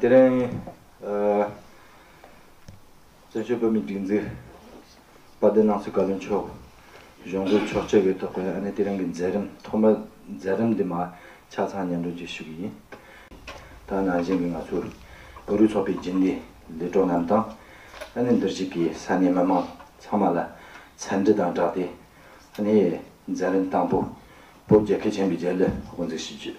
དེ་རིང་བཙན་བྱོལ་བོད་མིའི་སྒྲིག་འཛུགས་དཔའ་སྡེ་ནང་ཚུད་བཀའ་བློན་མཆོག་གཞུང་སྒོས་ཆོག་མཆོད་ཡོད་ཐོག་གི་ཨ་ནེ་དེ་རིང་གི་མཛད་རིམ་ཐོག་མའི་མཛད་རིམ་འདི་མ་ཆགས་ཚང་སྙན་སྒྲོན་བཅས་ཞུ་གི་ཡིན། ད་ནང་བཞིན་གྱི་ང་ཚོའི་བོད་རིགས་ཚོགས་པའི་རྗེས་འདེད་ལས་གྲོགས་རྣམས་དང། ཨ་ནེ་འདིར་གཞིགས་པའི་ས་གནས་མི་མང་ཚང་མ་ལ་འཚམས་འདྲི་དང་སྦྲགས་ཏེ་ཨ་ནེའི་མཛད་རིམ་དང་པོ་བོད་རྒྱལ་ཁས་བྱིན་པའི་རྒྱལ་གླུ་དབུ་འཛུགས་ཞུ་རྒྱུ།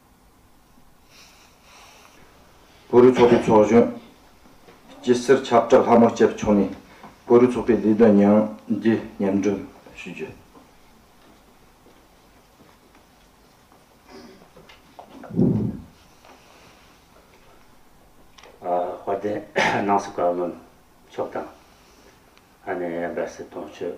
བོད་རིགས་ཚོགས་པའི་ཚོགས་གཞོན། སྐྱི་བསེར་ཆབ་བྲག་ལྷ་མོ་བཅས་པ་མཆོག་ནས་བོད་རིགས་ཚོགས་པའི་ལས་དོན་ཉིང་བརྒྱའི་སྙན་སྒྲོན་ཞུས་རྗེས། དཔལ་ལྡན་སྣང་སྲིད་བཀའ་བློན་མཆོག་དང། ཨ་ནེ་འབའ་སྲས་དོན་གཅོད།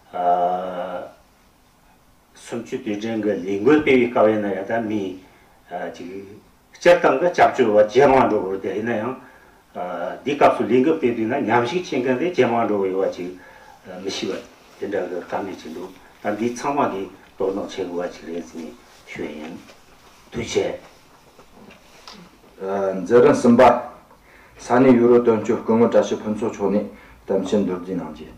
གསུམ་བཅུ་དུས་དྲན་གྱི་ལས་འགུལ་སྤེལ་བའི་སྐབས་ཡིན་ན་ཡང་དག་མི་གཅིག་སྤྱིར་བཏང་གི་སྐྱབས་བཅོལ་བ་ཇེ་མང་འགྲོ་དགོས་དེ་ཡིན་ན་ཡང། འདིའི་སྐབས་སུ་ལས་འགུལ་སྤེལ་དུས་ན་ཉམས་ཞིག་བྱེད་མཁན་དེ་ཇེ་མང་འགྲོ་བའི་བ་ཅིག་མི་ཤི་བ་དེ་འདྲ་གི་དཀའ་ངལ་ཅིག་འདུག་ད་འདི་ཚང་མ་གིས་དོ་སྣང་བྱེད་དགོས་བ་ཅིག་རེད་ཟེར་ནས་ཞུས་ཡིན། དུས་ཆད། མཛད་རིམ་གསུམ་པ། ས་གནས་ཡུ་རོབ་དོན་གཅོད་སྐུ་ངོ་བཀྲ་ཤིས་ཕུན་ཚོགས་མཆོག་ནས་གཏམ་བཤད་མདོར་བསྡུས་གནང་རྗེས།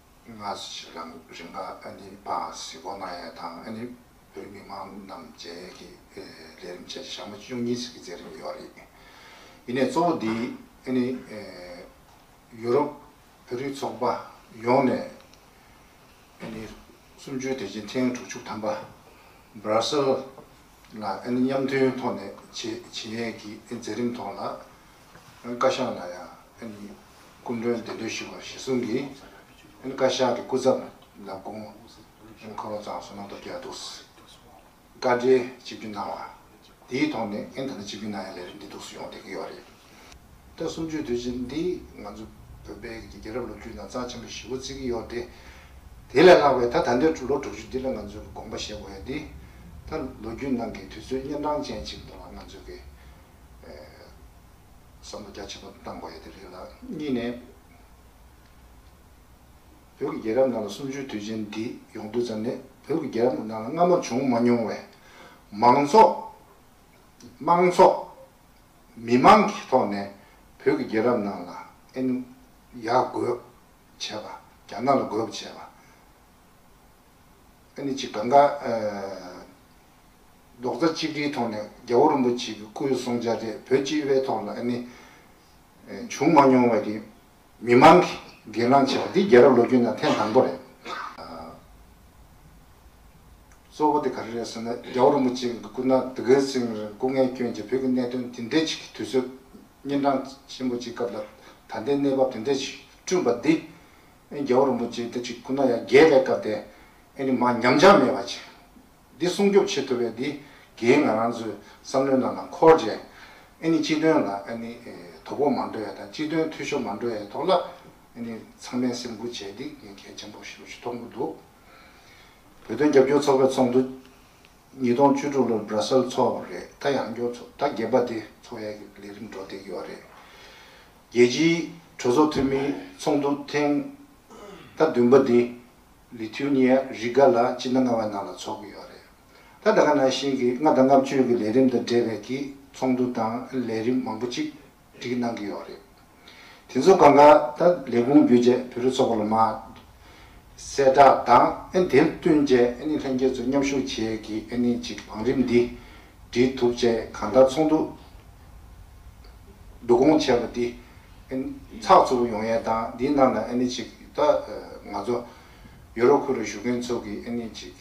སྔ་ཕྱི་ཞིག་ལ་རིམ་པ་ཨ་ནི་པ་སི་བོ་ན་ཡཱ་དང་ཨ་ནི་བོད་མི་མང་རྣམས་མཇལ་ཡས་ཀྱི་ལས་རིམ་བྱས་ཞག་མ་བཅུ་གཉིས་ཟིག་གི་མཛད་རིམ་ཡོད་རེད། ཡིན་ནས་གཙོ་བོ་འདི་ཨ་ནི་ཡུ་རོབ་བོད་རིགས་ཚོགས་པ་ཡོངས་ནས་ཨ་ནི་གསུམ་བཅུའི་དེ་བཞིན་ཐེངས་དྲུག་ཅུ་ཐམ་པ Brussels ལ་ཨ་ནི་མཉམ་མཐུན་ཐོག་ནས་བྱས་ཡས་ཀྱི་མཛད་རིམ་ཐོག་ལ། བཀའ་ཤག་ལ་ཡང་སྐུ་མགྲོན་བདེ་འདུས་ཞུ་བར་གཞི་བཟུང་གིས་བཀའ་ཤག་གི་སྐུ་ཚབ་ལ་དགོངས་ཁོ་རང་ཚང་སོ་ནང་དུ་བསྐྱལ་འདུག་བཀའ་འབྲེལ་གཅིག་གྱུར་གནང་བ་དེའི་ཐོག་ནས་ཨེ་ད་ནི་གཅིག་གྱུར་གནང་ཡ་ལས་རིམ་འདི་འདུག་སུ་ཡོང་བསྡད་ཀྱི་ཡོད་རེད། ཟླ་གསུམ་བཅུའི་དུས་ཆེན་འདི་ང་ཚོ་བོད་པའི་རྒྱལ་རབས་ལོ་རྒྱུས་ནང་རྩ་ཆེན་པོ་བཞི་བོ་བརྩི་གི་ཡོད་དེ། དེ་ལས་ལྷག་པའི་ད་ད་འདིར་ལོ་དྲུག་ཅུ་འདི་ལ་ང་ཚོས་དགོངས་པ་བཞེས་དགོས་ཡ་འདི་ད་ལོ་རྒྱུས་ནང་གི་དུས་ཚོད་གཉན་འཕྲང་ཅན་ཅིག་འདུག་ལ་ང་ཚོ་གི་བསམ་བློ་རྒྱ་ཆེན་པོ་གནང་དགོས་ཡོད་དེ་རེད་ལ། གཉིས་ནས། བོད་ཀྱི་རྒྱལ་རབས་ནང་ལ་གསུམ་བཅུའི་དུས་ཆེན་འདི་ཡོང་དུས་ཙམ་ནས་བོད་ཀྱི་རྒྱལ་རབས་ནང་ལ་སྔ་མོ་བྱུང་མ་མྱོང་བའི། མང་ཚོགས། དམངས་ཚོགས། མི་མང་གི་ཐོག་ནས་བོད་ཀྱི་རྒྱལ་རབས་ནང་ལ་ཨེ་ནུ། ཡ་རྒོད། བྱས་པ། རྒྱ་ནག་ལ་རྒོད་བྱས་པ། ཨེ་ནི་ཅི་ག་འགའ། རྡོག་རྩ་གཅིག་སྒྲིལ་ཐོག་ནས་རྒྱལ་བོ་རིན་པོ་ཆེ་གི་སྐུའི་གསུང་བྱ་དེ་བོད་སྤྱི་བའི་ཐོག་ལ་ནི་བྱུང་མ་མྱོང་བས་རེད། མི་མང་གིས་སྒེར་ལངས་བྱས་པ་འདི་རྒྱལ་རབས་ལོ་རྒྱུས་ནང་ཐེངས་དང་པོ་རེད། གཙོ་བོ་དེ་ག་རེ་རེད་ཟེར་ན་རྒྱལ་བོ་རིན་པོ་ཆེ་གི་སྐུ་ན་དུ་གའི་སེང་རིར་སྐུ་ངལ་བསྐྱོན་རྗེས་བོད་ཀྱི་གནད་དོན་དེ་འདྲའི་ཞིག་གི་དུས་ཚོད་གཉན་འཕྲང་ཆེན་པོ་ཅིག་སྐབས་ལ་ད་ལྟའི་གནས་བབ་དེ་འདྲའི་ཞིག་བསྐྲུན་པ་འདི་རྒྱལ་བོ་རིན་པོ་ཆེ་དེ་ཅིག་སྐུ་ན་ཡང་རྒྱལ་བའི་སྐབས་དེ་ནི་མ་ཉམས་ཆག་མེད་པ་ཅིག་འདི་སྲུང་སྐྱོབ་བྱེད་ཐུབ་པའི་འདི་གའི་ང་རང་ཚོའི་བསམ་བློའི་ནང་ལ་འཁོར་རྗེས། ཨཱ་ནི་སྤྱི་དོན་ལ་ཨཱ་ནི་དོ་ཕོག་མ་འགྲོ་ཡ་དང་སྤྱི་དོན་འཐུས་ཤོར་མ་འགྲོ་ཡའི་ཐོག་ལ་ཨཱ་ནི་ཚང་མས་སེམས་ཁུར་བྱས་འདི་ངས་གལ་ཆེན་པོ་ཞུ་ཐོག་མུ་འདུག་བོད་དོན་རྒྱབ་སྐྱོར་ཚོགས་པའི་ཚོགས་འདུ། ཉིས་སྟོང་བཅུ་དྲུག་ལོར་སྦྲ་སེལ་འཚོགས་པ་རེད་ད་ཡང་སྐྱོར་ཚོགས་ད་བརྒྱད་པ་དེ་འཚོགས་ཡ་གི་ལས་རིམ་འགྲོ་བསྡད་ཀྱི་ཡོད་རེད། རྒྱལ་སྤྱིའི་གྲོས་ཚོགས་འཐུས་མིའི་ཚོགས་འདུ་ཐེངས་ད་བདུན་པ་འདི་ལི་ཐུའུ་ནི་ཡ་རི་ག་ལ་སྤྱི་ཟླ་ལྔ་བའི་ནང་ལ་ཚོགས་ཀྱི་ཡོད་རེད། ད་ལྟ་ཁ་ནང་བཞིན་གྱི་ལྔ་དང་ལྔ་བཅུའི་གི་ལས་རིམ་དང་འབྲེལ་བའི་གི་ཚོགས་འདུ་དང་ལས་རིམ་མང་པོ་ཅིག་སྒྲིག་གནང་གི་ཡོད་རེད། དེ་ཚོ་གང་ག་ད་ལས་ཁུངས་བརྒྱུད་རྗེས་བུ་རུ་ཚོགས་པ་ལ་མ་གསལ་བསྒྲགས་དང་དེར་བསྟུན་རྗེས་ལྷན་རྒྱས་ཚོ་མཉམ་ཞུགས་བྱས་གི་ཅིག་བང་རིམ་འདི་འབྲེལ་ཐུབ་བཅས་གང་ལྟར་ཚོགས་འདུ་བསྡུ་སྐོང་བྱས་པ་འདི་ཚགས་ཚུད་པོ་ཡོང་ཡས་དང་འདིའི་ནང་ལ་ཨ་ནི་ཅིག་ད་ང་ཚོ་ཡུ་རོབ་ཁུལ་ལ་བཞུགས་མཁན་ཚོ་གི་ཨ་ནི་ཅིག་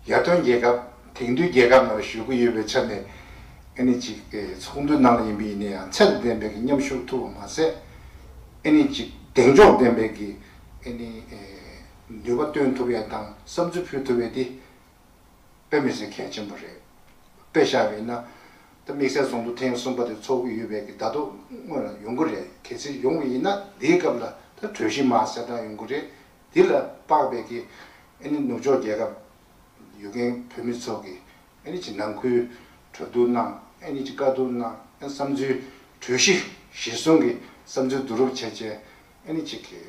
ཡར་ཐོན་རྒྱལ་ཁབ་དེང་དུས་རྒྱལ་ཁབ་ནང་ལ་བཞུགས་ཀྱི་ཡོད་པའི་ཆ་ནས་ཨ་ནི་ཅིག་ཚོགས་འདུའི་ནང་ལ་ཡིན་པ་ཡིན་ན་ཡང་ཚད་དང་ལྡན་པའི་གི་མཉམ་ཞུགས་ཐུབ་པ་མ་ཟད་ཨ་ནི་ཅིག་གདེང་འཇོག་ལྡན་པའི་གི་ཨ་ནི་ནུས་པ་བཏོན་ཐུབ་ཡས་དང་བསམ་ཚུལ་ཕུལ་ཐུབ་ཡས་འདི། དཔེ་མི་ཟིན་གལ་ཆེན་པོ་རེད། དཔེ་ཤར་བས་ན། ད་དམིགས་བསལ་ཚོགས་འདུ་ཐེངས་གསུམ་པ་དེ་འཚོགས་ཀྱི་ཡོད་པས་ཀྱི་ཟླ་ཐོག་སྔོན་ལ་ཡོང་གི་རེད་གལ་སྲིད་ཡོང་བ་ཡིན་ན་འདིའི་སྐབས་ལ་ད་གྲོས་གཞི་མ་གསལ་སྟངས་ཡོང་གི་རེད་འདི་ལ་དཔག་པས་ཀྱི་ཨ་ནི་ནུབ་ཕྱོགས་རྒྱལ་ཁབ་ཡོད་མཁན་བོད་མི་ཚོ་གི་ཨ་ནི་ཅི་ནང་ཁུལ་གྲོས་བསྡུར་གནང་ཨ་ནི་ཅི་དཀའ་སྡུག་གནང་ཨ་ནི་བསམ་ཚུལ་གྲོས་གཞི་གཞིར་བཟུང་གི་བསམ་ཚུལ་བསྡུ་རུབ་བྱས་བྱས་ཨ་ནི་ཅི་གི།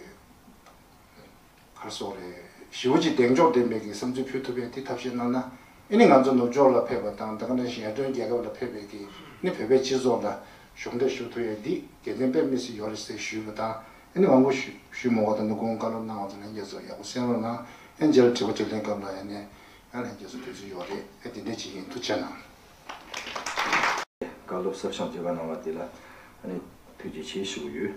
བར་སོགས་རེད། ཞི་བ་གཅིག་གདེང་འཇོག་ལྡན་པའི་གི་བསམ་ཚུལ་ཕུལ་ཐུབ་པས་དེ་ཐབས་ཤེས་གནང་ན་ཨེ་ནི་ང་ཚོ་ནུབ་ཕྱོགས་ལ་ཕེབས་པ་དང་དང་ལེན་ཞལ་འདོན་རྒྱལ་ཁབ་ལ་ཕེབས་པའི་གི་ནི་བོད་པའི་སྤྱི་ཚོགས་ལ་གཞོགས་འདེགས་ཞུ་ཐུབ་ཡས་འདི་དགེ་ལྡན་པས་མི་སི་ཡོ་རེད་ཟེར་ཞུས་པ་དང་ཨེ་ནི་དབང་བོ་ཞུས་མོ་བ་དང་ནི་དགོངས་བཀའ་སློབ་གནང་བ་དང་ལེན་རྒྱས་སོ་ཡག་པོ་གསན་རོགས་གནང་ཨེ་མཇལ་དྲི་བ་དྲིས་ལན་སྐབས་ལ་ཨེ་ནི་ཡང་ལན་རྒྱས་སོ་དུས་ཚོད་ཡོ་རེད་ཨེ་དེ་འདྲས་ཅིག་ཡིན་ཐུགས་ཆེ་གནང། བཀའ་སློབ་གསབ་སྦྱང་བྱེད་པ་གནང་བ་དེ་ལ་ཨེ་ནི་ཐུགས་རྗེ་ཆེ་ཞུ་གི་ཡོད།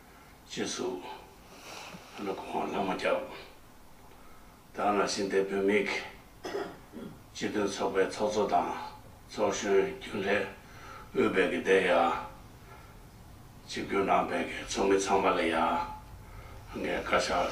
ཅེས་གསུངས། ཡང་ན་གོང་འོག་ལྷ་མོ་སྐྱབས། དག་སྣང་ཤིང་རྟའི་བུད་མེད་ཀྱི། སྤྱི་མཐུན་ཚོགས་པའི་ཚོགས་གཙོ་དང། ཚོགས་གཞོན་རྒྱུན་ལས་དབུས་བེད་ཀྱི་སྡེ་ཡང། གཅིག་གྱུར་ནང་བེད་ཀྱི་ཚོགས་མི་ཚང་མ་ལ་ཡང། ངས་བཀའ་ཤག་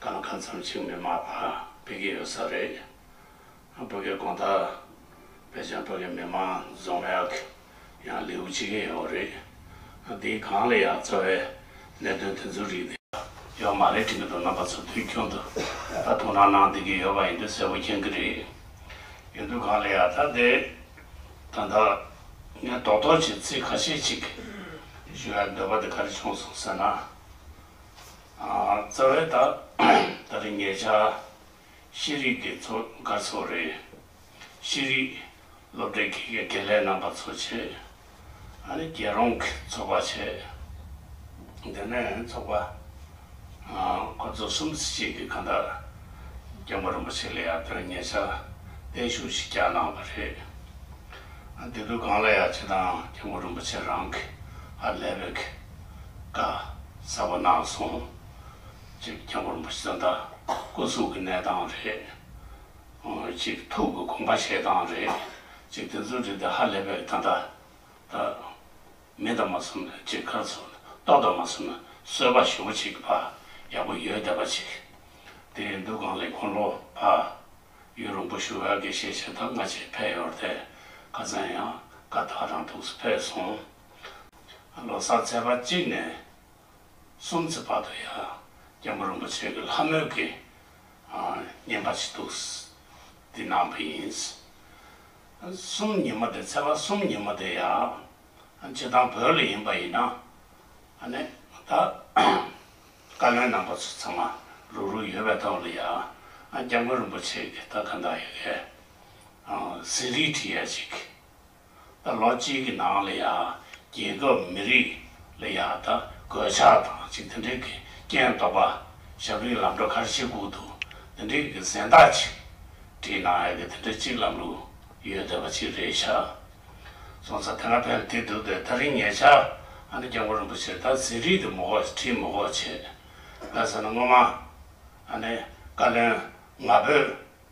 གང་གང་འཚམས་ཆིག་མི་མ་ཕ་བི་གི་ཡོད་ས་རེད་བོད་གི་གོང་ཐག་བེད་ཅིང་བོད་གི་མི་མང་བཟང་ཡག་གི་ཡང་ལེའུ་ཆིག་ཡིན་ཡོད་རེད་དེའི་གང་ལ་ཡང་རྩ་བའི་གནད་དོན་དེ་ཚོའི་རིགས་དེ་ཡོད་མ་རེད་དྲི་གི་འདུག་རྣམ་པ་ཚོ་དུས་རྒྱུན་དུ་ད་དུང་རང་སྣང་དེ་གི་ཡོད་པ་ཡིན་དུས་གསལ་བོ་མཁྱེན་གི་རེད་ཡིན་དུས་གང་ལ་ཡང་ད་དེ་ད་ད་ངས་རྡོག་རྡོག་གཅིག་ཚིག་ཁ་ཤས་གཅིག་ཞུ་ཡག་འདོད་པ་དེ་ག་རེ་བྱུང་སོང་ཟེར་ན། རྩ་བའི་ད་ལྟ་དེ་ངེད་ཅག་ཤེས་རིག་གི་ཚོ་དགའ་ཚོ་རེད། ཤེས་རིག་སློབ་གྲྭའི་དགེ་རྒན་དགེ་ལས་རྣམ་པ་ཚོ་བྱེད། ཨ་ནི་རྒྱལ་རོང་གི་ཚོགས་པ་བྱེད། དེ་ནས་ཚོགས་པ་ཁོ་ཚོ་གསུམ་བརྩི་བྱེད་ཀྱི་གང་ལྟར་རྒྱལ་པོ་རིན་པོ་ཆེ་ལ་ཡང་དོན་ངེད་ཅག་བརྟན་བཞུགས་ཤིག་བསྐྱངས་གནང་བ་རེད། དེ་དུས་གང་ལ་ཡང་བྱེད་སྟངས་རྒྱལ་པོ་རིན་པོ་ཆེ་རང་གི་ཨ་ལས་པའི་གི་ཀ། གསལ་བོ་གནང་སོང། གཅིག་རྒྱལ་པོར་འབུ་ཟན་དང་སྐུ་གཟུགས་ཀྱི་གནས་སྟངས་རེད། གཅིག་ཐུགས་ཀྱི་དགོངས་པ་བཞེས་སྟངས་རེད། གཅིག་དེ་ཚོའི་རིགས་དེ་ཧ་ལས་པའི་ད་ལྟ། མི་དང་མ་གསུམ་ནས་གཅིག་ཁ་ཚུར་གཏོགས་དང་མ་གསུམ་ནས་གསོལ་བ་ཞུ་བ་གཅིག་གི་བར་ཡག་པོ་ཡོད་བསྡད་པ་གཅིག་དེ་འདུག་གང་ལས་འཁོར་ལོ་བར་ཡུལ་རོང་པོ་ཞུ་བའི་གེ་ཤེས་བྱས་ཐག་སྔ་རྗེས་ཕེབས་ཡོད་དེ་ཁ་ཚན་ཡང་ཀ་ཐག་རང་ཐུགས་སུ་ཕེབས་སོང། ལོ་གསར་ཚེས་པ་གཅིག་ནས་གསུམ་ཚེས་བར་དུ་ཡང་རྒྱལ་པོ་རིན་པོ་ཆེ་གི་ལྷ་མོའི་དགེ་བསྙེན་པ་ཞིག་འདུག་འདི་ནང་པའི་ཡིན། གསུམ་ཉིན་མོ་དེ་ཚེས་པ་གསུམ་ཉིན་མོ་དེ་ཡང་བྱེ་ཐང་བོད་ལ་ཡིན་པ་ཡིན་ན་ནི་ད་བཀའ་བློན་རྣམ་པ་ཚོ་ཚང་མ་རུག་རུག་ཡོད་པའི་ཐོག་ལ་ཡང་རྒྱལ་མགོན་རིན་པོ་ཆེ་གི་ད་ག་འདྲ་ཡོད་གི་ཟིན་རིས་བྲིས་ཡ་ཅིག་ལ་ལོ་གཅིག་གི་ནང་ལ་ཡང་རྒྱལ་ཁབ་མི་རིགས་ལ་ཡང་ད་གོད་ཆག་དང་ཅིག་དེ་འདྲིག་གི་རྐྱེན་རྟོག་པ་ཞབས་རིང་ལམ་འགྲོ་ཁར་ཕྱི་ཁུག་ཏུ་དེ་འདྲིག་གི་གཟེངས་རྟགས་ཅིག་བྲིས་ན་ཡག་གི་དེ་འདྲ་ཅིག་ལམ་ལུགས་ཡོད་འདོད་པ་ཅིག་རེད་ཤག་སོང་ཚ་དེ་འདྲ་ཕན་བདེ་འདུག་འདོད་ད་རིང་ངེད་ཅག་ཨ་ནེ་སྐྱབས་མགོན་རིན་པོ་ཆེ་ད་ཟིན་རིས་དེ་མོ་ཁོག་བྲིས་མོ་ཁོག་བྱེད་ང་ཟེར་ན་སྔོན་མ་ཨ་ནེ་བཀའ་བློན་ང་བོད།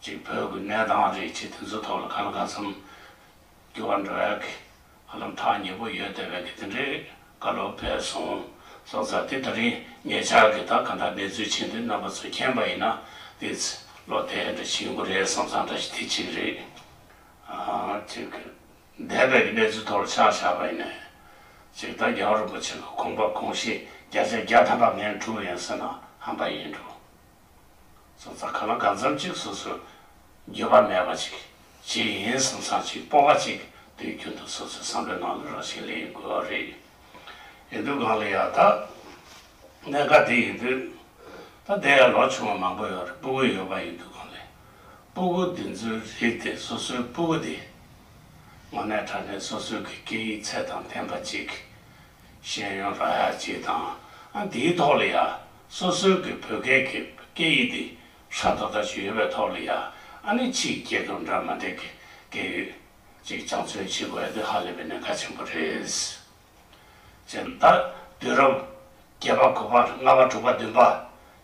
གཅིག་བོད་ཀྱི་གནས་སྟངས་རེད་ཅེས་དེ་ཚོའི་ཐོག་ལ་ག་ལ་ག་ཚོད་འགྱུར་བ་འགྲོ་ཡག་གི། ཧ་ལམ་ཐག་ཉེ་པོ་ཡོད་དེ་བས་ཀྱི་དེ་འདྲའི་བཀའ་སློབ་སྤེལ་སོང་སོང་ཙང་དེ་ལྟ་རིན་ངེད་ཅག་གི་ད་ག་འདྲ་གནས་ཚུལ་བྱེད་འདོད་རྣམ་པ་ཚོ་མཁྱེན་པ་ཡིན་ན་དེ་ཚོས་བློ་གཏད་འདྲ་བྱེད་དགོས་རེད་བསམ་ཙང་འདྲ་ཞིག་དེ་གཅིག་རེད། གཅིག་གི། འདས་པའི་གི་གནས་ཚུལ་ཐོག་ལ་ཕྱག་བཞག་པ་ཡིན་ནས། གཅིག་ད་རྒྱལ་བ་རིན་པོ་ཆེ་གི་དགོངས་པ་གོང་བཞིན་བརྒྱ་ཆ་བརྒྱ་ཐམ་པ་ངས་འཁྲུ་བ་ཡིན་ཟེར་ན་ཧམ་པ་ཡིན་འགྲོ། སོ་ཙག་ག་ལ་ག་འཛོམས་ཅིག་སོ་སོས་འགྱོད་པ་མེད་པ་ཅིག་བྱེད་ཡིན་བསམ་སར་ཅིག་སྤོ་བ་ཅིག་དུས་རྒྱུན་དུ་སོ་སོའི་བསམ་པའི་ནང་དུ་རང་བཞིན་ལེན་དགོས་བ་རེད། ཡིན་དུས་གང་ལ་ཡང་ད་གནད་འགག་དེ་ཡིན་དུས། ད་དེ་ཡང་ལོ་ཆུང་བ་མང་པོ་ཡོད་རེད་སྤུ་གུ་ཡོད་པ་ཡིན་དུས་གང་ལས། སྤུ་གུ་འདི་ཚོའི་རིགས་དེ་སོ་སོའི་སྤུ་གུ་དེ། དངོས་གནས་དྲ་གནས་སོ་སོའི་གི་སྐད་ཡིག་ཚད་དང་ལྡན་པ་ཅིག་ཤེས་ཡོན་ལ་ཡ་བྱེད་དང་དེའི་ཐོག་ལ་ཡ་སོ་སོའི་གི་བོད་སྐད་ཀྱི་སྐད་ཡིག་དེ་ཧྲ་དོ་ད་ཞིག་ཡོད་པའི་ཐོག་ལ་ཡ་ནི་ཕྱིའི་སྐད་དོ་འདྲ་མ་འདྲ་གི་སྐད་ཡིག་ཅིག་ཅང་མཚོན་བྱེད་དགོས་དེ་ཧ་ལས་པའི་གནད་འགག་ཆེན་པོ་རེད། ཅེས་ད་དུས་རབས་བརྒྱད་པ་གོ་པ་ལྔ་པ་དྲུག་པ་བདུན་པ་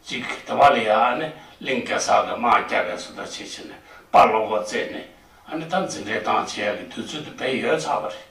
ཅིག་དེ་བ་ལ་ཡ་ནི་གླིང་གེ་སར་གི་དམག་རྒྱ་བས་སུ་ད་ཆེ་ཆེ་ནས་དཔའ་བློ་སྒོ་བཙས་ནས་ད་འཛིན་གྲྭའི་ཏང་བྱེད་ཡ་གི་དུས་ཚོད་དུ་བས་ཡོད་ཚར་བ་རེད།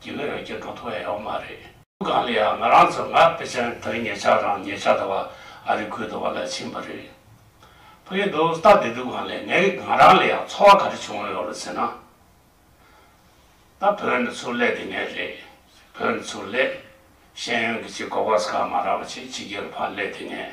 དགེ་བའི་རྒྱུ་འགྲོ་ཐུབ་ཨེ་ཡོང་མ་རེད། སྒང་ལ་ཡང་ང་རང་ཚོ་ངག་དཔེ་ཅན་བོད་ཉལ་ཆག་རང་ཉལ་ཆག་ད་བ་ཨ་རི་ཁུལ་དུ་བ་ལ་ཕྱིན་པ་རེད། ཕ་ཡུལ་དུ་སྟབས་བདེ་འདུག་གང་ལས་ངའི་ང་རང་ལ་ཡང་ཚོར་བ་ག་རེ་བྱུང་ཡོད་རོ་ཟེར་ན། ད་བོད་ནས་ཚུར་སླེབས་དེ་ནས་རེད། བོད་ནས་ཚུར་སླེབས། ཤེས་ཡོན་གྱི་ཆེད་གོ་ཕག་ས་ཁ་མ་རག་པ་ཆེད་ཕྱི་རྒྱལ་ལ་ཕར་སླེབས་དེ་ནས།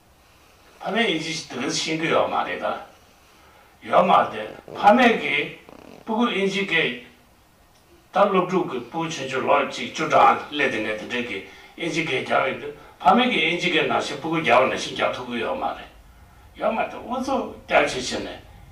ཕ་མའི་དབྱིན་ཇི་ཞིག་དེ་རིང་ཤེས་རྒྱུ་ཡོད་མ་རེད་དཱ། ཡོད་མ་རེད། ཕ་མེས་ཀྱི་སྤུ་གུ་དབྱིན་ཇི་སྐད། ད་སློབ་ཕྲུག་གི་སྤུ་ཆུང་ཆུང་ལོ་གཅིག་བཅུ་གྲངས་སླེབས་དེ་ནས་དེ་འདྲའི་གི་དབྱིན་ཇི་སྐད་རྒྱབ་ཡོད་དུས་ཕ་མེས་ཀྱི་དབྱིན་ཇི་སྐད་ནང་བཞིན་སྤུ་གུ་རྒྱབ་ན་ཤིང་རྒྱབ་ཐུབ་གི་ཡོད་མ་རེད། ཡོད་མ་རེད། འུ་ཚོ་སྐྱབས་བྱེད་བྱས་ནས།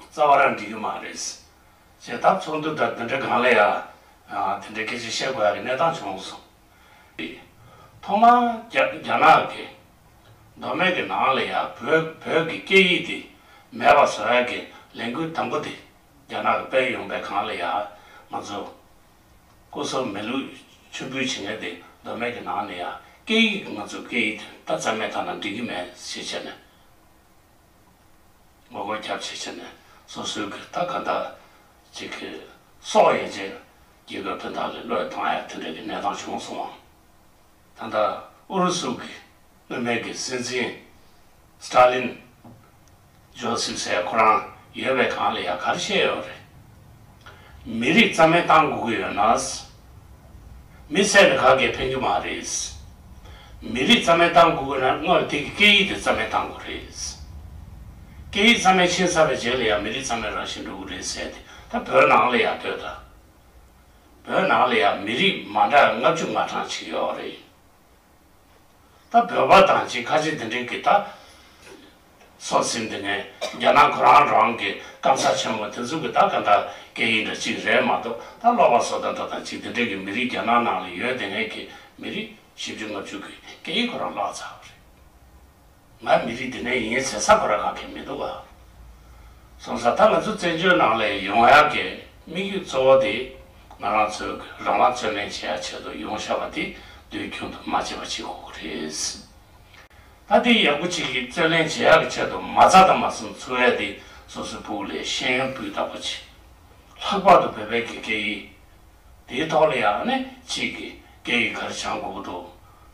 རྩ་བ་རང་འགྲིག་གི་མ་རེད། བྱེད་ཐབས་ཚོགས་འདུ་འདྲ་དེ་འདྲ་གང་ལ་ཡང་དེ་འདྲའི་སྐད་ཆ་བཤད་དགོས་ཡ་གི་གནས་སྟངས་བྱུང་སོང། ཐོག་མར་རྒྱ་ནག་གི་མདོ་སྨད་ཀྱི་ནང་ལ་ཡང་བོད་ཀྱི་སྐད་ཡིག་དེ་མེད་པ་བཟོ་ཡ་གི་ལས་འགུལ་དང་པོ་དེ་རྒྱ་ནག་གི་དཔལ་ཡོང་པའི་གང་ལ་ཡང་མ་རྫོགས། སྐུ་སྲོག་མེ་ལུས་མཆོད་འབུལ་བྱེད་མཁན་དེ་མདོ་སྨད་ཀྱི་ནང་ནས་ཡང་སྐད་ཡིག་ང་ཚོའི་སྐད་ཡིག་དེ་ད་རྩ་མེད་ཐ་ན་འགྲིག་གི་མེད་ཞེས་བྱས་ནས། ངོ་རྒོལ་རྒྱ་ཆེ་བྱས་ནས་སོ་སོའི་གི་ལྟ་ག་འདྲ་བྱེད་གི་སོགས་དབྱེ་རྗེས་རྒྱལ་ཁབ་དེ་དག་གི་བློས་བཏང་ཡང་དེ་འདྲ་གི་གནས་སྟངས་བྱུང་སོང་བ། ད་ལྟ་ཨུ་རུ་སུ་གི་དངོས་མེད་ཀྱི་སྲིད་འཛིན། Stalin། Joseph སའི་ཁོ་རང་ཡོད་པའི་སྒང་ལ་ཡང་ག་རེ་བཤད་ཡོད་རེད། མི་རིགས་རྩ་མེད་གཏང་དགོས་ཀྱི་ཡོད་ན། མི་ཚད་ལས་ཁ་གས་ཕན་རྒྱུ་མ་རེད། མི་རིགས་རྩ་མེད་གཏང་དགོས་ཀྱི་ན་སྔར་དེ་གི་སྐད་ཡིག་དེ་རྩ་མེད་གཏང་དགོས་རེད། སྐད་ཡིག་རྩ་མེད་ཕྱིན་ཚར་བའི་རྗེས་ལ་ཡང་མི་རིགས་རྩ་མེད་རང་བཞིན་འགྲོ་གི་རེད་ཟེར་དེ་ད་བོད་ནང་ལ་ཡང་ལྟོས་དང། བོད་ནང་ལ་ཡང་མི་རིགས་མ་འདྲ་ལྔ་བཅུ་ལྔ་གྲངས་ཅིག་ཡོད་རེད། ད་བོད་པ་དང་གཅིག་ཁ་ཆེ་འདི་འདྲས་ཀྱི་ད་སོག་ཟིན་འདི་ནས་རྒྱ་ནག་ཁོ་རང་རང་གི་སྐམ་ས་ཆེན་མོ་དེ་ཚུགས་ཀྱི་ད་ག་འདྲ་སྐད་ཡིག་འདྲ་གཅིག་རེད་མ་གཏོགས་ད་ཀློག་པ་སོག་ད་འདྲ་དང་གཅིག་འདི་འདྲས་ཀྱི་མི་རིགས་རྒྱ་ནག་ནང་ལ་ཡོད་དེ་ངས་ཀྱི་མི་རིགས་བཞི་བཅུ་ལྔ་བཅུ་གྱི་སྐད་ཡིག་ཁོ་རང་བཀླགས་ཚར་བ་རེད། ང་མི་རིགས་འདི་ནས་ཡིན་ཟེར་ས་གོ་ར་ག་གེ་མི་འདུག་ག་སོང་ས་ད་ང་ཚོ་བཙན་བྱོལ་ནང་ལས་ཡོང་ཡག་གེ་དམིགས་ཡུལ་གཙོ་བོ་དེ་ང་རང་ཚོས་རང་དབང་བརྩོན་ལེན་བྱེད་ཡག་ཆེད་དུ་ཡོང་ཤག་པ་དེ་དུས་རྒྱུན་དུ་མ་བྱེད་པ་བྱེད་དགོས་གོ་རེད་ད་དེ་ཡག་པོ་བྱེད་གེ་བརྩོན་ལེན་བྱེད་ཡག་གེ་ཆེད་དུ་མ་ཚ་དང་མ་གསུམ་ཚུར་བས་དེ་སོ་སོའི་སྤུག་ལས་ཤེས་ཡོན་སྤུས་དག་པོ་བྱེད་ལྷག་པར་དུ་བོད་པའི་གེ་གེ་ཡི་དེའི་ཐོག་ལ་ཡག་ནས་བྱེད་གེ་གེ་ཡི་གར་བྱང་དགོས་གོ་འདུག།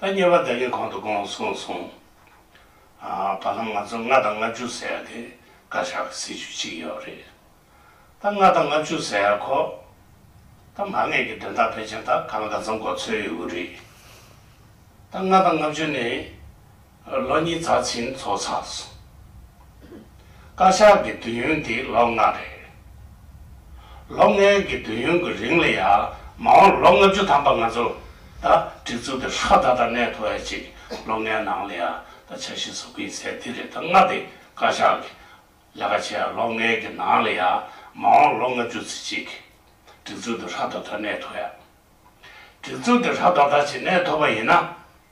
ད་ཉེ་བར་བདེ་སྐྱིད་གོང་དུ་དགོངས་གསུངས་སོང། བར་ལམ་ང་ཚོ་ལྔ་དང་ལྔ་བཅུ་ཟེར་ཡག་དེ་བཀའ་ཤག་གི་སྲིད་བྱུས་གཅིག་ཡོད་རེད། ད་ལྔ་དང་ལྔ་བཅུ་ཟེར་ཡག་གོ། ད་མ་ངེས་ཀྱི་དོན་དག་ཕལ་ཆེར་དག་ག་ལ་ག་ཚང་གོ་ཚོད་ཡོད་རེད། ད་ལྔ་དང་ལྔ་བཅུ་ནི། ལོ་གཉིས་རྩ་ཆེན་འཚོགས་ཚར་སོང། བཀའ་ཤག་གི་དུས་ཡུན་དེ་ལོ་ལྔ་རེད། ལོ་ལྔའི་གི་དུས་ཡུན་གི་རིང་ལ་ཡང་མ་འོངས་ལོ་ལྔ་བཅུ་ཐམ་པ་ང་ཚོ་ད་སྒྲིག་འཛུགས་དེ་ཧྲ་ད་ད་གནས་ཐོ་ཡ་གཅིག་ལོ་ལྔའི་ནང་ལ་ཡང་ད་འཆར་གཞི་བཟོ་གིན་ཟེར་དེ་རེད་ད་ལྔ་དེ་བཀའ་ཤག་གི་ལས་ཀ་བྱས་ལོ་ལྔའི་གི་ནང་ལ་ཡང་མ་འོངས་ལོ་ལྔ་བཅུ་ཚེ་གཅིག་གི་སྒྲིག་འཛུགས་དེ་ཧྲ་ད་ད་གནས་ཐོ་ཡ། སྒྲིག་འཛུགས་དེ་ཧྲ་ད་ད་ཅིག་གནས་ཐོ་པ་ཡིན་ན།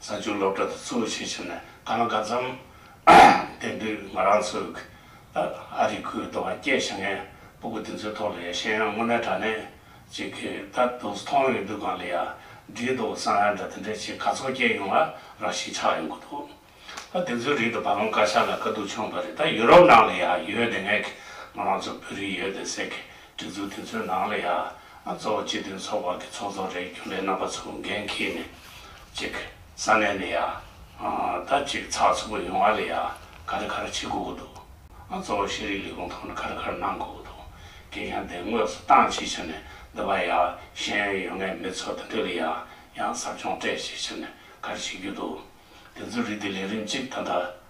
བཟའ་བཅའ་སློབ་གྲྭ་དུ་གཙོ་བོ་ཆེ་ཆུང་ནས་ག་ལ་འགའ་འཛོམས། དེང་དུས་ང་རང་ཚོའི་ཨ་རིའི་ཁུལ་དུ་བ་སྐྱེས་བྱ་ངན་པོ་དགུ་དེ་ཚོའི་ཐོག་ལ་ཡ་ཤན་ཡང་དངོས་གནས་དྲ་གནས་ཅིག་གི་ད་དུང་མཐོང་ཡོད་དུས་གང་ལ་ཡ་བྲིས་འདུག་བསམ་ཡ་འདྲ་དེ་འདྲའི་ཆེ་ག་ཚོགས་སྐྱེས་ཡོང་བ་རང་ཞིག་ཆགས་ཡོང་གི་འདུག་ད་དེ་ཚོའི་རིགས་དུ་བ་ལང་དཀར་ཤ་ལ་དཀའ་སྡུག་ཆོངས་པ་རེད་ད་ཡུ་རོབ་ནང་ལ་ཡ་ཡོད་དེ་ངས་ཁྱེད་ང་རང་ཚོ་བོད་རིགས་ཡོད་དེ་ཟེར་གི། གྲོས་ཚོགས་དེ་ཚོའི་ནང་ལ་ཡང་གཙོ་བོ་སྤྱི་མཐུན་ཚོགས་པ་གི་ཚོགས་གཙོ་རེད་རྒྱུན་ལས་རྣམ་པ་ཚོ་འགན་འཁྱེར་ནས་ཅིག་ས་གནས་ནས་ཡང་ད་ཅིག་ཚགས་ཚུད་པོ་ཡོང་བ་ལ་ཡང་ཁ་རི་ཁ་རི་བྱེད་དགོས་ཀྱི་འདུག་གཙོ་བོ་ཤེས་རིག་ལས་ཁུངས་ཐོག་ནས་ཁ་རི་ཁ་རི་གནང་དགོས་ཀྱི་འདུག་གལ་ཡང་དེ་དངོས་སུ་བཏང་ཅིག་ཕྱིར་ནས་འདི་པ་ཡང་ཤེས་ཡོན་ཡོད་ངེས་མི་ཚོ་དེ་འདྲ་ལ་ཡང་ཡང་ཟབ་སྦྱོང་སྤྲད་ཅིག་ཕྱིར་ནས་ཁ་རི་བྱེད་རྒྱུ་འདུག་དེ་ཚོའི་རིགས་དེ་ལས་རིམ་ཅིག་ད་ལྟ།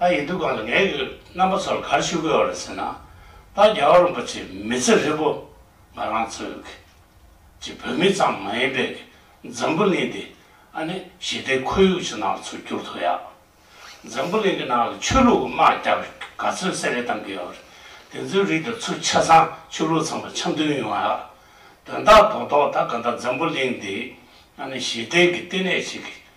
ད་ཡིན་དུས་གང་ལ་ངའི་རྣམ་པ་ཚོར་གར་ཞུ་དགོས་བ་རེད་ཟེར་ན། ད་རྒྱ་གར་རིན་པོ་ཆེ་མི་ཚེ་ཧྲིལ་པོ་ང་རང་ཚོའི་གི་གཅིག་བོད་མི་ཙམ་མ་ཡིན་པའི་གི་འཛམ་བུ་གླིང་འདི་ཨ་ནི་ཞི་བདེའི་ཁོར་ཡུག་ཅིག་ནང་ཚུར་བསྒྱུར་ཐུབ་ཡག། འཛམ་བུ་གླིང་གི་ནང་གི་ཆོས་ལུགས་དམག་རྒྱག་གི་ག་ཚོད་བསད་རེས་གཏང་གི་ཡོད་བ་རེད། དེ་ཚོའི་རིགས་དེ་ཚོ་ཆ་ཚང་ཆོས་ལུགས་ཚང་མ་འཆམ་མཐུན་ཡོང་ཡག། དོན་དག་དོག་དོག་ད་ག་འདྲ་འཛམ་བུ་གླིང་འདི་ཨ་ནི་ཞི་བདེའི་གི་ལྟེ་གནས་ཤིག་གི་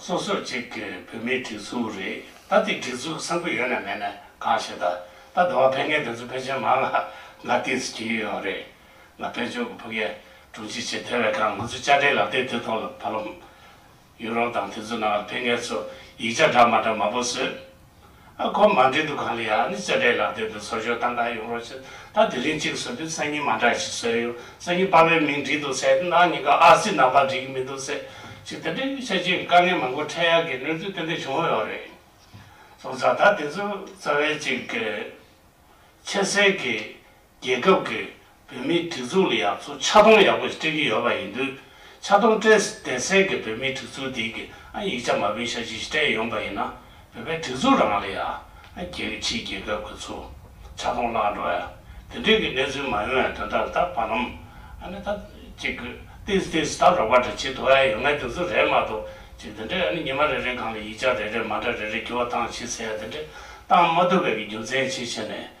སོ་སོ་གཅིག་གི་བོད་མིའི་སྒྲིག་འཛུགས་རེད་ད་དེ་སྒྲིག་འཛུགས་བཟང་པོ་ཡོད་ནས་མེད་ནས་གང་བྱེད་ད་ད་དུ་བ་ཕན་ངའི་སྒྲིག་འཛུགས་ཕལ་ཆེར་མང་ང་ང་ལྟིས་གྱིས་ཡོད་རེད་ང་དཔལ་འབྱོར་གྱི་ཕུགས་ཡ་དྲུང་ཆེ་བྱེད་དེ་བས་ཀང་ང་ཚོ་བཅར་འདྲིའི་ལག་དེབ་དེ་ཐོག་ལ་བ་ལོམ་ཡོད་རོགས་དང་དེ་ཚོ་ནང་ལ་ཕན་ངའི་ཚོ་ཡིག་ཆ་འདྲ་མ་འདྲ་མང་པོ་བཟོས་ཨ་ཁོ་མ་འདྲེ་འདུ་ཁང་ལ་ཡང་ནི་བཙལ་འབྲས་ལག་དེབ་དེ་ཚོར་ཞོག་ད་འགའ་ཡོང་རོགས་བྱས། ད་དེ་རིང་གཅིག་བཟོས་དུས་སང་ཉིན་མ་འདྲ་ཞིག་བཟོས་ཡོང་སང་ཉིན་དཔའ་བོའི་མིང་བྲིས་འདུག་ཟེར་ན་ནང་གཉིས་ཀ་ཨ་ཙི་ནང་པར་འགྲིག་གི་མི་འདུག་ཟེར། ཅིག་དེ་འདྲའི་གཡུལ་ཆ་ཅན་གྱི་དཀའ་ངལ་མང་པོ་འཕྲད་ཡ་གི་གནས་ཚུལ་ཏན་ཏན་བྱུང་ཡོད་རེད། སོང་ཙང་ད་དེ་ཚོའི་རྩ་བའི་ཅིག་གི། ཆེ་གསལ་གྱི། རྒྱལ་ཁབ་ཀྱི་བུད་མེད་སྒྲིག་འཛུགས་ལ་ཡང་ཚོ་ཆ་སྟོང་ཡག་པོ་ཞིག་སྤྲད་ཀྱི་ཡོད་པ་ཡིན་དུས། ཆ་སྟོང་སྤྲད་ཟིན་བསྡད་ཟེར་གི་བུད་མེད་སྒྲིག་འཛུགས་དེ་གིས་ཨ་ཡིག་ཆ་མ་བུན་ཤ་ཅི་ཞིག་སྤྲད་ཡོང་པ་ཡིན་ན། བོད་པའི་སྒྲིག་འཛུགས་རང་ལ་ཡ། རྒྱལ་གྱི་ཕྱིའི་རྒྱལ་ཁབ་ཀྱི་ཚོ་ཆ་སྟོང་བརླག་འགྲོ་ཡ། དེ་འདྲའི་གི་གནས་ཚུལ་མ་ཡོང་ཡ་དོན་དག་ལ་ད་བར་ནམ། ཨ་ནི་ད། ཅིག་གི། ཏིས་ཏིས་ད་རོགས་པ་འདྲ་བྱེད་དུ་ཨ་ཡ་ཡོད་ངེས་དེ་ཚོ་རེད་མ་གཏོགས། ཅིག་དེ་འདྲས་ཨ་ནི་ཉི་མ་རེ་རེའི་སྒང་ལ་ཡིག་ཆ་རེ་རེ་མ་འདྲ་རེ་རེ་བསྒྱུར་བ་བཏང་བྱས་ཟེར་ཡ་དེ་འདྲས་བཏང་མ་ཐུབ་པའི་གི་རྒྱུ་མཚན་ཅི་བྱས་ནས།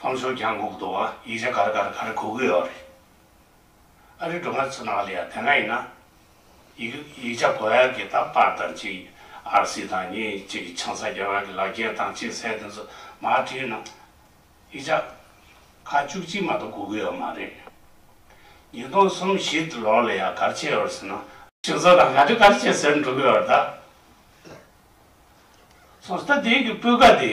ཁོང་ཚོས་ཀྱང་གུག་འདུག་ཨ་ཡིག་ལས་གར་གར་གར་གུག་གི་ཡོད་རེད། ཨ་རིའི་སྒྲུང་གནའ་ཚོ་ནང་ལས་དེ་འདྲ་ཡིན་ན། ཡིག་ཡིག་ཆ་གོ་ཡག་གི་དང་པར་དང་གཅིག་ཨར་སི་དང་གཉིས་གཅིག་གི་ཆང་ས་རྒྱ་གར་གི་ལག་རྒྱས་དང་གཅིག་ཟས་དེ་ཚོ་མ་བྲིས་ན། ཡིག་ཆ་ཁ་བཅུ་གཅིག་མ་གཏོགས་གུག་གི་ཡོད་མ་རེད། ཉིས་སྟོང་གསུམ་བཞི་དུ་ལོར་ལ་ཡང་གར་བྱས་ཡོད་ཟེར་ན། ཁྱེད་ཚོ་དང་ག་དུས་གར་བྱས་ཟེར་འགྲོ་གི་ཡོད་ད། སོང་ཟིག་ད་དེའི་གི་སྤུས་ཀ་དེ།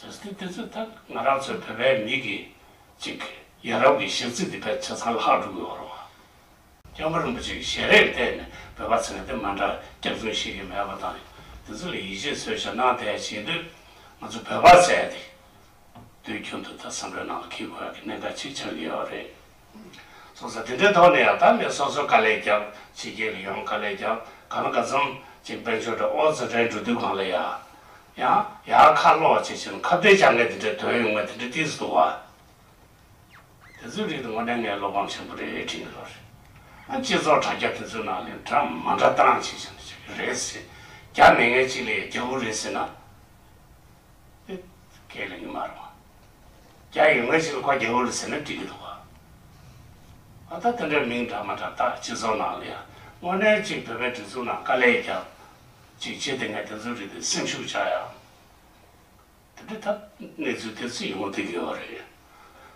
ཟེར་ཏེ་དེ་ཚོའི་ཐད་ང་རང་ཚོའི་བོད་པའི་མི་གི་ཅིག་ཡ་རབས་ཀྱི་གཞས་ཚིག་འདི་བེད་ཆ་ཚང་ལྷག་འགྲོ་གི་འོ་རོ་བ། སྐྱབས་པ་རིན་པོ་ཆེ་གི་ཞལ་རས་བལྟས་ནས་བོད་པ་ཚང་དེ་མ་འདྲ་སྐྱག་རྫུན་ཤེས་ཀྱི་མེད་པ་དང་དེ་ཚོ་ལ་ཡིད་ཆེས་འཚོལ་ཞབས་གནང་དེ་བྱེད་དུས་ང་ཚོ་བོད་པ་ཚད་དེ་དུས་རྒྱུན་དུ་ད་བསམ་བློའི་ནང་ལ་འཁེལ་དགོས་ཀྱི་གནད་འགག་ཅིག་ཆགས་ཀྱི་ཡོད་རེད། གསུང་ས་དེ་འདྲའི་ཐོག་ནས་ཡང་དག་མེད་སོ་སོ་དཀའ་ལས་ཀྱང་ཕྱི་རྒྱལ་གྱི་ཡང་དཀའ་ལས་ཀྱང་ག་ན་ག་འཚམ་ཅིག་དཔལ་ཆོས་གྲྭ་ཨོ་རྩལ་འགྲན་བསྡུར་དུས་སྒང་ལ་ཡང་ཡང་ཡང་ཁ་ལོ་བྱེད་བཞིན་ཁ་བརྡའི་བྱ་ངན་དེ་འདྲའི་དོན་ཡོད་མེད་དེ་འདྲའི་གཏིང་ཟབ་ཏུ་བ། དེ་ཚོའི་རིགས་དེ་ངོ་ནས་ངའི་བློ་ཕམ་ཆེན་པོ་རེད་དྲན་གྱི་རོ་རེད། ཨ་སྤྱི་ཚོགས་དྲ་རྒྱ་དེ་ཚོའི་ནང་ལས་འདྲ་མ་འདྲ་བཏང་བྱེད་བཞིན་བྱེད་ཀྱི་རེད་ཟེར་རྒྱ་མི་ངན་གཅིག་ལས་ཡང་རྒྱ་བོ་རེད་ཟེར་ན། དེ་སྐད་ལས་ཉི་མ་རུང། རྒྱ་ཡིག་སྔ་ཕྱི་ལ་ཀ་རྒྱ་འུ་ལ་ཟེར་ན་འགྲིག་གི་འདུག་ག་ཨ་ད་དེ་འདྲ་མིང་འདྲ་མ་འདྲ་ད་སྤྱི་ཚོགས་ནང་ལ་ཡང་དངོས་གནས་གཅིག་བོད་པའི་སྒྲིག་འཛུགས་ནང་དཀའ་ལས་རྒྱབ་ཅིག་བྱེད་དེ་ངས་དེ་ཚོའི་རིགས་དེ་སེམས་ཤུགས་ཆག་ཡང་དེ་འདྲ་ཐབས་གནས་ཚུལ་དེ་ཚོ་ཡོང་ཐུག་གི་ཡོད་རེད་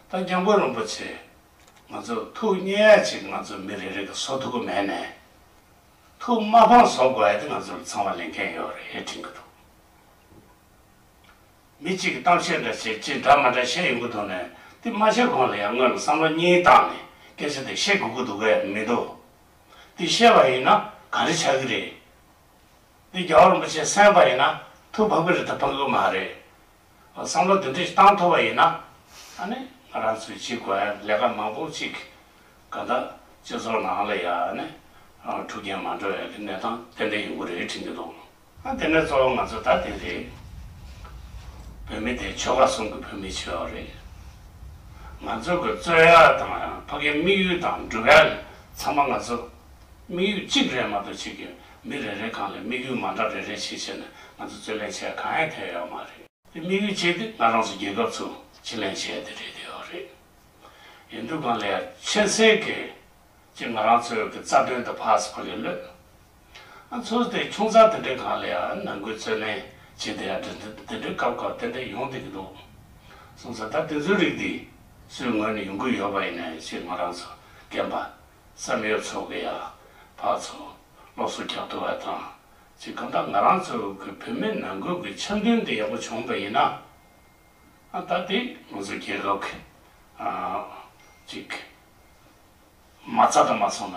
ད་རྒྱ་མགོ་རིན་པོ་ཆེ་ང་ཚོ་ཐུགས་མཉེས་ཡ་ཅིག་ང་ཚོ་མི་རེ་རེ་གི་བཟོ་ཐུག་གི་མེད་ནས་ཐུགས་མ་ཕངས་བཟོ་དགོས་ཡ་དེ་ང་ཚོ་ལ་ཚང་མ་ལས་འགན་ཡོད་རེད་དྲན་གི་འདུག། མི་གཅིག་གིས་གཏམ་བཤད་འདྲ་བྱེད་ཅེས་འདྲ་མ་འདྲ་བཤད་ཡོང་གི་འདུག་ནས་དེ་མ་བཤད་གོང་ལ་ཡང་དངོས་ལ་བསམ་བློ་གཉིས་བཏང་ནས་སྐད་ཆ་དེ་བཤད་དགོས་ཀྱི་འདུག་གས་མི་འདུག་དེ་བཤད་པ་ཡིན་ན་ག་རེ་ཆགས་ཀྱི་རེད། དེ་རྒྱ་གར་རིན་པོ་ཆེས་གསན་པ་ཡིན་ན་ཐུགས་ཕམ་གྱི་རེད་ད་ཕམ་གྱི་མ་རེད། བསམ་བློ་དེ་འདྲ་ཞིག་བཏང་ཐུབ་པ་ཡིན་ན། ཨ་ནི་ང་རང་ཚོའི་སྤྱི་དགོན་ལས་ཀ་མང་པོ་ཅིག་ག་ད་སྤྱི་ཚོགས་ནང་ལ་ཡང་ཨ་ནི་འཁྲུག་རྐྱེན་མ་འགྲོ་བའི་གནས་སྟངས་དེ་འདྲ་ཡོང་གི་རེད་དྲན་གྱི་འདུག། ཨ་དེ་ནས་གཙོ་བོ་ང་ཚོ་ད་དེ་རེད། བོད་མི་དེ་ཆོལ་ཁ་སྲུང་གི་བོད་མི་ཆོལ་ཁ་རེད། ང་ཚོ་གི་རྩོད་ཡ་དང་ཕ་གི་དམིགས་ཡུལ་དང་སྒྲུབ་ཡ་ཚང་མ་ང་ཚོ་དམིགས་ཡུལ་གཅིག་རེད་མ་གཏོགས་གཅིག་གི་མི་རེ་རེ་གང་ལས་དམིགས་ཡུལ་མ་འདྲ་རེ་རེ་བྱེད་བྱེད་ནས་ང་ཚོ་རྩོད་ལེན་བྱེད་ཡ་གང་ཡང་ཐེ་ཡོད་མ་རེད། དེ་དམིགས་ཡུལ་གཅིག་དེ་ང་རང་ཚོ་རྒྱལ་ཁབ་ཚོ་གཅིག་ལེན་བྱེད་ཡ་དེ་རེད་ཐེ་ཡོད་རེད། ཡིན་དུས་གང་ལས་ཡ་ཆེ་སེ་གི་ཅི་ང་རང་ཚོའི་གི་རྩ་དོན་དུ་ཕ་སི་ཕ་གི་བློས། ཨ་མཚོ་དེ་ཁྱུང་ཚང་དེ་འདྲའི་གང་ལ་ཡང་ནང་དགོས་ཚོད་མེད་ཅེས་དེ་ཡང་དེ་འདྲའི་སྐབས་སྐབས་ཏན་ཏན་ཡོང་སྡོད་ཀྱི་འདུག་གསུངས་སོ་ད་དེ་ཚོའི་རིགས་འདི་སུའི་ངོས་ནས་ཡོང་གི་ཡོད་པ་ཡིན་ནམ་ཞེས་ང་རང་ཚོ་རྒན་པ་བསམ་ཡོད་ཚོ་གི་ཡང་བག་ཚོ་སློབ་གསོ་རྒྱག་འདོད་བ་དང་ཅི་གང་ལྟར་ང་རང་ཚོ་གི་བུད་མེད་ནང་དགོས་ཀྱི་འཆམ་མཐུན་དེ་ཡག་པོ་བྱུང་བ་ཡིན་ན་ད་དེ་ང་ཚོ་རྒྱལ་ཁབ་ཅིག་མ་རྩ་དང་མ་ཚང་ན།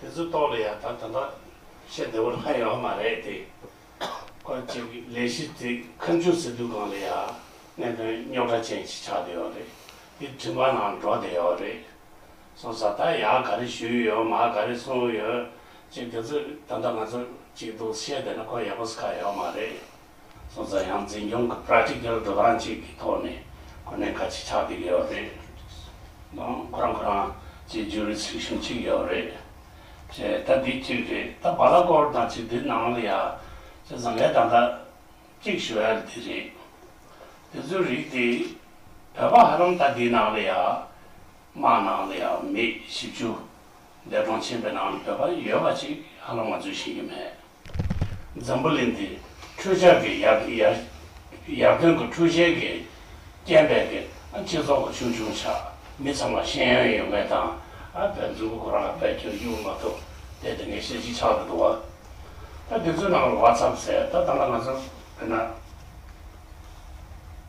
དེ་ཚོ་རྟོགས་ལ་ཡང་ད་དོན་དག་བཤད་བདེ་བོ་ལྷག་ཡོད་མ་རེད་དེ། སྐོར་ཅིག་གི་ལས་གཞི་དེ་ཁ་མཆུ་ཟེར་དུས་གང་ལ་ཡང་གནད་དོན་རྙོག་དྲ་ཅན་ཞིག་ཆགས་བསྡད་ཡོད་རེད་དེ་དྲི་མ་ནང་འགྲོ་བསྡད་ཡོད་རེད། སོང་ས་ད་ཡག་ག་རེ་ཞུས་ཡོད་མ་ག་རེ་གསུངས་ཡོད་ཅེས་དེ་ཚོ་ད་ལྟ་ང་ཚོར་ཅིག་འདུག་བཤད་བསྡད་ན་ཁོ་ཡག་པོ་ཟ་ཁ་ཡོད་མ་རེད། སོང་ཙང་ཡང་འཛིན་སྐྱོང་གི Practical སྒྲོ་སྟངས་གཅིག་གི་ཐོག་ནས་གོ་གནས་ཁ་གཅིག་ཆགས་ཀྱི་ཡོད་རེད། ཡང་ཁོ་རང་ཁོ་རང་གཅིག Jurisdiction གཅིག་ཡོད་རེད། ཅེས་ད་འདི་གཅིག་རེད་ད་བ་ལ་སྐོར་དང་གཅིག་འདི་ནང་ལ་ཡ། ཅེས་བཟང་ངའི་དང་ཐག་གཅིག་ཞུ་ཡ་འདི་རེད། དེ་ཚོའི་རིགས་དེ་བོད་པ་ཧ་ལམ་ད་འདི་ནང་ལ་ཡ། དམངས་ནང་ལ་ཡ་མི་བཞི་བཅུ། འདས་གྲོངས་ཕྱིན་པའི་ནང་ལ་བོད་པ་ཡོད་པ་གཅིག་ཧ་ལམ་ང་ཚོས་ཤེས་ཀྱི་མེད། འཛམ་བུ་གླིང་འདི་འཕྲུལ་ཆས་ཀྱི་ཡར་ཐོན་གྱི་འཕྲུལ་ཆས་ཀྱི་སྐྱེ་འཕེལ་གྱི་སྤྱི་ཚོགས་ཀྱི་ཆུང་ཆུང་ཆ་མི་ཚང་མ་ཤེས་ཡོན་ཡོད་མེད་དང་བེད་འཛུགས་ཀྱི་གོ་ར་ལ་བེད་སྤྱོད་འགྱུར་མ་ཐུབ་དེ་དེ་འགའི་ཤེས་ཀྱི་ཆགས་ཀྱི་འདུག་བ། ད་དེ་ཚོའི་ནང་ལ་བ་ཚབ་ཚེ་ད་ད་ལ་ང་ཚོ་བོད་ན་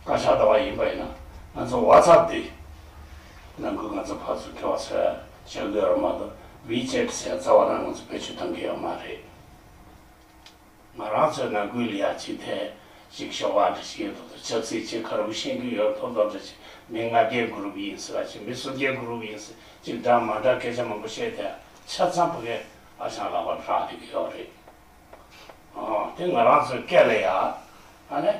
བཀའ་ཤག་ཟླ་བ་ཡིན་པ་ཡིན་ན་ང་ཚོ་བ་ཚབ་འདི་ནང་ཁུལ་ང་ཚོ་ཕར་ཚུར་འཁེལ་བ་ཚོས། བྱེད་དགོས་ཡོད་མ་གཏོགས WeChat ཟེར་བའི་རྩ་བ་རང་ངོས་སུ་བེད་སྤྱོད་གཏོང་གི་ཡོད་མ་རེད། ང་རང་ཚོའི་ནང་ཁུལ་ལ་ཡག་ཅིག་ཐད་ཅིག་ཤོག་ཁག་འདྲ་ཞིག་ཡོད་འདུག་ཏུ་ཆབ་སྲིད་ཅིག་ཁ་རུ་བཞེངས་རྒྱུ་ཡོད་ཐོག་ཐོག་འདྲ་ཅིག་མི་ལྔ་བརྒྱའི Group ཡིན་སྲིད་ལ་ཅིག་མི་སུམ་བརྒྱའི Group ཡིན་སྲིད་ཅིག་འདྲ་མ་འདྲ་སྐད་ཆ་མང་པོ་བཤད་དེ་ཆ་ཚང་ཕ་གའི་ཨ་ཞང་ལག་པར་བཞག་འགྲིག་གི་ཡོད་རེད། དེ་ང་རང་ཚོའི་སྐད་ལ་ཡག། ཨ་ནས།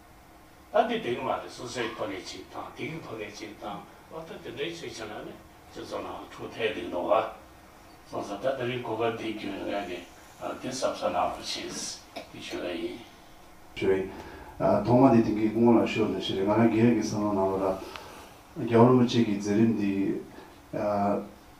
ད་འདི་དེ་གི་མ་རེད་སོ་སོའི་ཕོ་ནས་ཅིག་དང་དེ་གི་ཕོ་ནས་ཅིག་དང་ལོ་ཏོག་དེ་འདྲའི་ཆེད་བྱས་ན་ནི་སྤྱི་ཚོགས་ནང་འཁྲུག་ཐལ་གྱི་འདུག་ཨ། སོང་ཙང་ད་དེ་རིང་གོ་སྐབས་འདི་བརྒྱུད་ངས་ནི་དེ་ཟབ་ས་ནང་དུ་ཕྱིན་ཞེས་ཞུ་ཡ་ཡིན། ཞུ་ཡིན། ཐོག་མ་དེ་དེང་གི་སྐུ་ངོ་ལ་ཤོར་ནི་ཞེས་རེད་ང་རང་རྒྱལ་ཡོངས་ཀྱི་བསམ་བློ་ནང་ལོ་རབས་བརྒྱ་ལོ་ལོ་གཅིག་གི་མཛད་རིམ་འདི།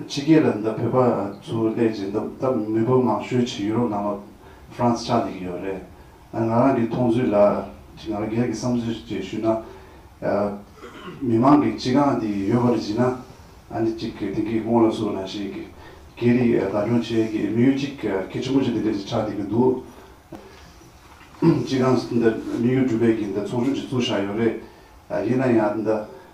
ཕྱི་རྒྱལ་ལ་འདི་བོད་པ་ཚོའི་སླད་ཀྱི་འདི་ལྟ་མི་བུ་མང་ཤོས་ཆེ་ཡུ་རོབ་ནང་ལ France ཆགས་འདི་གི་ཡོད་རེད་ང་རང་གི་མཐོང་ཚུལ་ལ་ཁྱི་ང་རང་སྒེར་གི་བསམ་ཚུལ་ཅིག་ཞུས་ན་མི་མང་གི་སྤྱི་གང་འདི་ཡོད་པར་བྱིན་ན་འདི་གཅིག་གི་དེང་གི་སྔོན་ལ་སུ་ན་ཞིག་གི་རིག་ག་སྐྱོང་བྱེད་ཀྱི་མི་ཡུལ་ཅིག་ཁྱི་ཆེན་པོ་ཅིག་འདི་འདྲ་ཅིག་ཆགས་འདི་གི་འདུག་སྤྱི་གང་འདི་མི་ཡུལ་གྲུ་པས་ཀྱི་འདི་ཚོགས་ཆུང་ཅིག་བཙུགས་བཞག་ཡོད་རེད་ཡིན་ན་ཡང་འདི་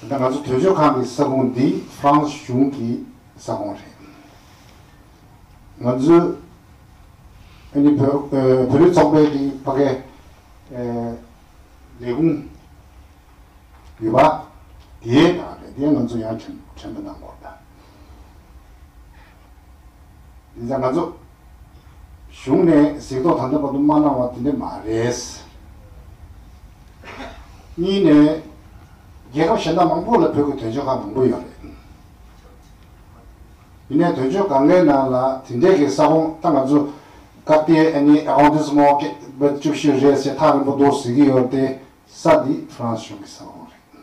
ད་ལྟ་ང་ཚོ་དོལ་ཆོས་ཁང་གི་ས་ཁུང་འདི France གཞུང་གི་ས་ཁུང་རེད། ང་ཚོའི་ཨ་ནི་བོད་བོད་རིགས་ཚོགས་པའི་གི་ཕ་གའི་ལས་ཁུང་ཡོད་པ་དེའི་ནང་རེད་དེ་ང་ཚོ་ཡང་དྲན་དྲན་པ་གནང་དགོས་རེད། འདི་ལྟར་ང་ཚོ་གཞུང་ནས་གཟིགས་རྟོག་ད་ལྟ་བར་དུ་མ་གནང་བ་དེ་འདྲ་མ་རེད། གཉིས་ནས་རྒྱལ་ཁབ་གཞན་དག་མང་པོ་ལ་བོད་ཀྱི་དོན་གཅོད་ཁག་མང་པོ་ཡོད་རེད། དེ་ནས་དོན་གཅོད་གང་གཱའི་ནང་ལ་དེ་འདྲས་ཀྱི་ས་ཁོངས་ད་ང་ཚོ་ཀ་རྟའི་ཨ་ནི Arrondissement བརྒྱད་པ་བཅུ་བཞི་རེད་ཟེར་ཐག་རིང་པོ་འདུག་ཟེར་གྱི་ཡོད་དེ་ས་འདི Frans གཞུང་གི་ས་ཁོངས་རེད།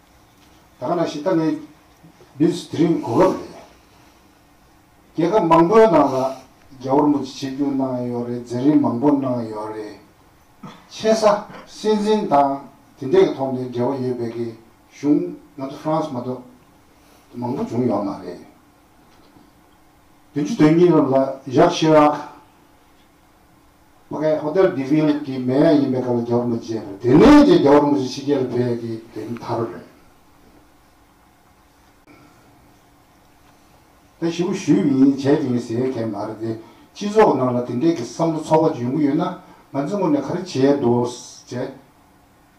ད་ག་ན་ཞིག་ལྟ་ནི་བདུད་དེ་རིང་གོ་སྐབས་རེད། རྒྱལ་ཁབ་མང་པོའི་ནང་ལ་རྒྱ་བོར་མོ་ཅི་བྱེད་རྒྱུ་གནང་ཡོད་རེད་འཛིན་རིན་མང་པོ་གནང་ཡོད་རེད། ཆེ་ས་སྲིད་འཛིན་དང་དེ་འདྲས་ཀྱི་ཐོག་ནས་འབྲེལ་བ་ཡོད་པའི་ཀྱི་གཞུང་ང་ཚོ France མ་གཏོགས་མང་པོ་བྱུང་ཡོད་མ་རེད། བདུན་ཅུ་དོན་གཉིས་ལོར་ལ་ཇག་ཤི་རག། མ་གནས་ཧོ་ཏེལ་དེ་བྷིལ་གྱི་མེ་ཡ་ཡིན་པའི་སྐབས་ལ་རྒྱ་གར་མུ་ཇེ་དང་དེ་ནས་རྒྱ་གར་མུ་ཇེ་ཕྱི་རྒྱལ་ལ་བོད་ཡ་གི་དེ་ནི་ཐར་རེད། ད་ཞི་བུ་ཞུས་མིན་བྱས་ཀྱི་མིན་ཟེར་མཁན་མ་རེད་དེ་སྤྱི་ཚོགས་ནང་ལ་དེ་འདྲས་ཀྱི་བསམ་བློ་ཚོགས་པ་འཇོན་གི་ཡོད་ན་ང་ཚོས་ངོས་ནས་ག་རེ་བྱས་འདུག་ཟེར་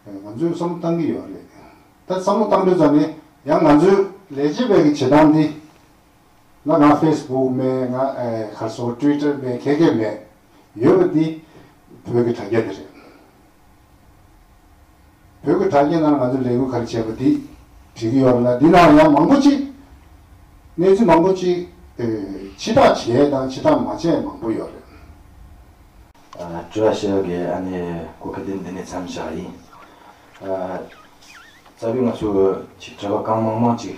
ན་ང་ཚོས་བསམ་བློ་བཏང་གི་ཡོད་རེད་ད་བསམ་བློ་བཏང་འདོད་ཙམ་ནི་ཡང་ང་ཚོས་ལས་བྱེད་པའི་གི་བྱེད་སྟངས་འདི། ང་ང་ཕེས་བུག་མེད་ང་ཁར་སོ་ཀྲུའི་ཀྲར་མེད་ཁེ་ཁེ་མེད་ཡོད་པ་འདི་བོད་ཀྱི་དྲ་རྒྱ་དེ་རེད། བོད་ཀྱི་དྲ་རྒྱའི་ནང་ང་ཚོ་ལས་འགུལ་ག་རེ་བྱས་པ་འདི་བྲིས་ཀྱི་ཡོད་ལ་འདི་ནའང་ཡང་མང་པོ་ཅིག་གནས་ཚུལ་མང་པོ་ཅིག་ཕྱི་བསྒྲགས་བྱས་དང་ཕྱི་བསྒྲགས་མ་བྱས་མང་པོ་ཡོད་རེད། ཀྲུའུ་ཞི་གིས་ཨ་ནི་གོ་ཁེ་དེ་འདི་ནས་མཚམས་བཞག་ཡིན། རྩ་བའི་ང་ཚོ་ཆིག་བསྒྲིལ་བ་གང་མང་མང་ཅིག་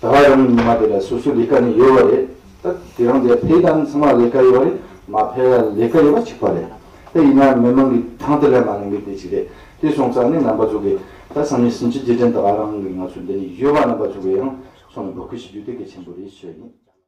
ད་བར་རང་གི་ཉི་མ་དེ་ལ་སོ་སོའི་ལས་ཀ་ནི་ཡོད་པ་རེད་ད། དེ་རང་དེ་ཕེལ་དང་ཚང་མ་ལས་ཀ་ཡོད་པ་རེད་མ་ཕེལ་ལ་ལས་ཀ་ཡོད་པ་གཅིག་པ་རེད་ད། ཡིན་ནའང་མི་མང་གི་གྲངས་དེ་ལས་མ་གླེང་གི་དེ་གཅིག་རེད་དེ་སོང་ཙང་ནི་རྣམ་པ་ཚུགས་གི་ད་སང་ཉིན་ཟིན་བྱེད་རྗེས་དྲན་ད་བར་རང་གི་ང་ཚོའི་འདི་ནས་ཡོད་པ་རྣམ་པ་ཚུགས་གི་ཡང་སོང་ནས་འབོད་སྐུལ་བྱེད་རྒྱུ་དེ་གལ་ཆེན་པོ་རེད་ཞུ་བ་ཡིན།